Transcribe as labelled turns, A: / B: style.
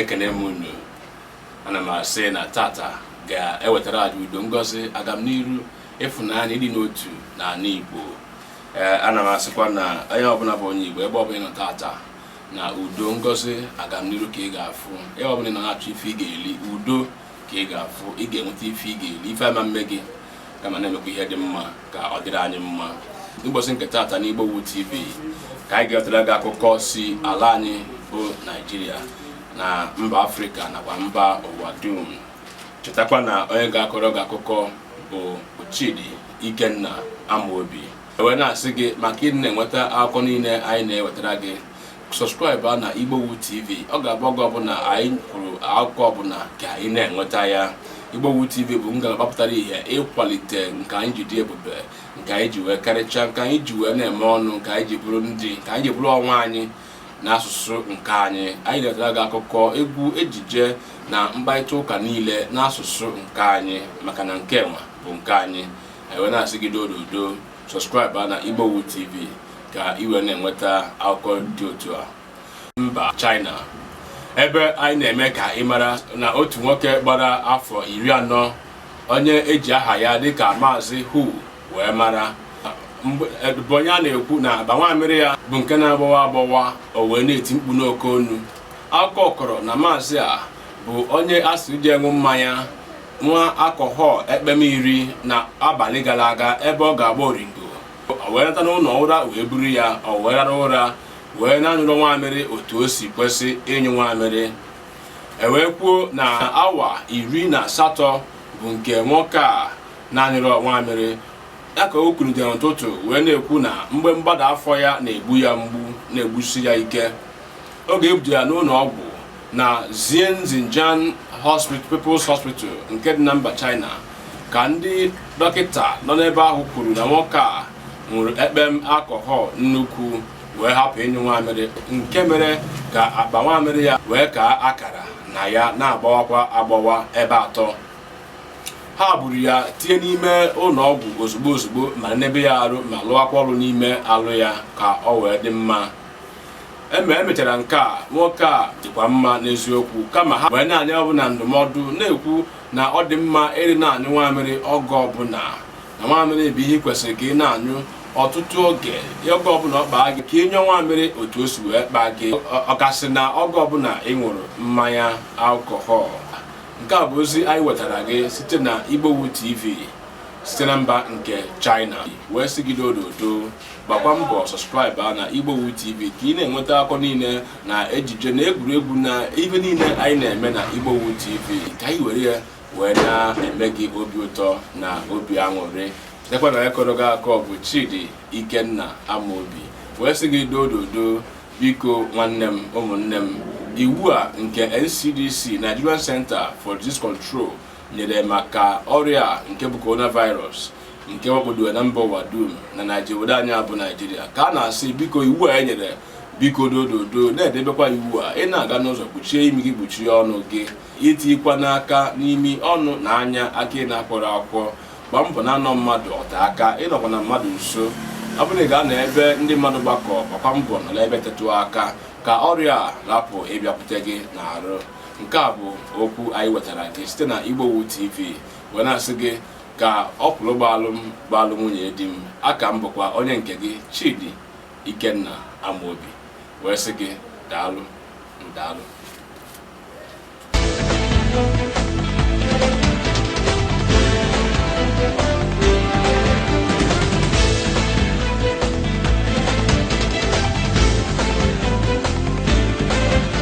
A: ekene m unu ana m asị na tata ga-ewetara anyị udo ngozi agamniru ịfụnanya ịdị n'otu na ala Igbo ee ana m asịkwa na onye ọbụla bụ onye Igbo ebe ọbụla ị nọ tata na udo ngozi agamniru ka ị ga-afụ ebe ọbụla ị nọ na-achọ ife ị ga-eli udo ka ị ga-afụ ị ga-enweta ife ị ga-eli ife ama mme gị kama na-emekwa ihe dị mma ka ọ dịrị anyị mma n'ụbọchị nke taata n'Igbowood TV ka anyị ga-ewetara gị akụkọ si ala anyị bụ Naijiria na mba Afrịka nakwa mba ụwa dum chetakwa na onye ga-akọrọ gị akụkọ bụ Chidi Ikenna Amobi ewee na-asị gị maka ịdị na-enweta akụkọ niile anyị na-ewetara gị sọskraịbụ a na Igbowood TV ọ ga-abụ oge ọbụla anyị kwuru akụkọ ọbụla ka ị na-enweta ya Igbowood TV bụ ngalaba pụtara ihe ịkwalite nke anyị ji dị ebube nke anyị ji wee karịchaa nke anyị ji wee na-eme ọnụ nke anyị ji bụrụ ndị nke anyị ji bụrụ onwe anyị n'asụsụ nke anyị anyị ga-ewetara gị akụkọ egwu ejije na mkparịta ụka niile n'asụsụ nke anyị maka na nke nwa bụ nke anyị anyị wee na-asị gị dododo sọskraịbụ na Igbowood TV ka ị wee na-enweta akụkọ dị otu a mba China ebe anyị na-eme ka ị mara na otu nwoke gbara afọ iri anọ onye e ji aha ya dịka maazị Hu wee mara bụ onye a na-ekwu na akpa nwamịrị ya bụ nke na-agbawa agbawa o wee na-eti mkpu n'oke onu akụkọ kọrọ na maazị a bụ onye a sịrị je ṅụọ mmanya nwa alkọhọl ekpem iri na abalị gara aga ebe ọ ga-agba oringo o wee nata n'ụlọ ụra wee buru ya ọ wee rara ụra wee na-anyụrọ nwamịrị otu o si kwesị ịnyụ nwamịrị e wee kwuo na awa iri na asatọ bụ nke nwoke a na-anyụrọ nwamịrị ya ka o kulitere n'ụtụtụ wee na-ekwu na mgbe mgbada afọ ya na-egbu ya mgbu na-egbusi ya ike oge e budu ya n'ụlọ ọgwụ na Xian Xinjiang People's Hospital nke dị na mba China ka ndị dọkịta nọ n'ebe ahụ kwuru na nwoke a ṅụrụ ekpem alcohol nnukwu wee hapụ ịnyụ nwamịrị nke mere ka akpa nwamịrị ya wee kaa akara na ya na-agbawakwa agbawa ebe atọ ha buru ya tinye n'ime ụlọ ọgwụ ozugbo ozugbo ma nebe ya arụ ma lụwakwa ọrụ n'ime alụ ya ka ọ wee dị mma e me e mechara nke a nwoke a dịkwa mma n'eziokwu kama ha wee na-enye onye ọbụla ndụmọdụ na-ekwu na ọ dị mma ịrị na-anyụ nwamịrị oge ọbụla na nwamịrị bụ ihe kwesịrị ka ị na-anyụ ọtụtụ oge oge ọbụla ọ kpaa gị ka ị nyụọ nwamịrị otu o si wee kpaa gị ọkasị na oge ọbụla ị ṅụrụ mmanya alkọhọl nke a bụ ozi anyị wetara gị site na Igbowood TV site na mba nke China wee sị gị dododo gbakwa mbọ subscribe a na igbowood tv ka ị na-enweta akọ niile na ejije na egwuregwu na ife niile anyị na-eme na igbowood tv ka anyị were ya wee na-eme gị obi ụtọ na obi aṅụrị dekwa na onye kọrọ gị akọ bụ chidi ikenna amaobi wee sị gị dododo biko nwanne m ụmụnne m iwu a nke ncdc nigerian center for disease control nyere maka ọrịa nke bụ coronavirus nke wakpodoro na mba ụwa dum na naijiria obodo anyị a bụ naijiria ka a na-asị biko iwu a e nyere biko dododo na-edebekwa iwu a ị na-aga n'ụzọ kpuchie imi gị kpuchie ọnụ gị itikwana aka n'imi ọnụ na anya aka ị na-akwọrọ akwụkwọ gbaa mbọ na-anọ mmadụ ote aka ịnọkwana mmadụ nso ọ bụrụ na ị gaa na ebe ndị mmadụ gbakọ gbakwa mbọ nọ n'ebe tetụ aka ka ọrịa a rapụ ịbịakwute gị n'arụ nke a bụ okwu anyị wetara gị site na Igbowood TV wee na-asị gị ka ọkwụlụ gbaalụ m gbaalụ nwunye di m a ka m bụkwa onye nke gị Chidi Ikenna Amobi wee sị gị daalụ ndaalụ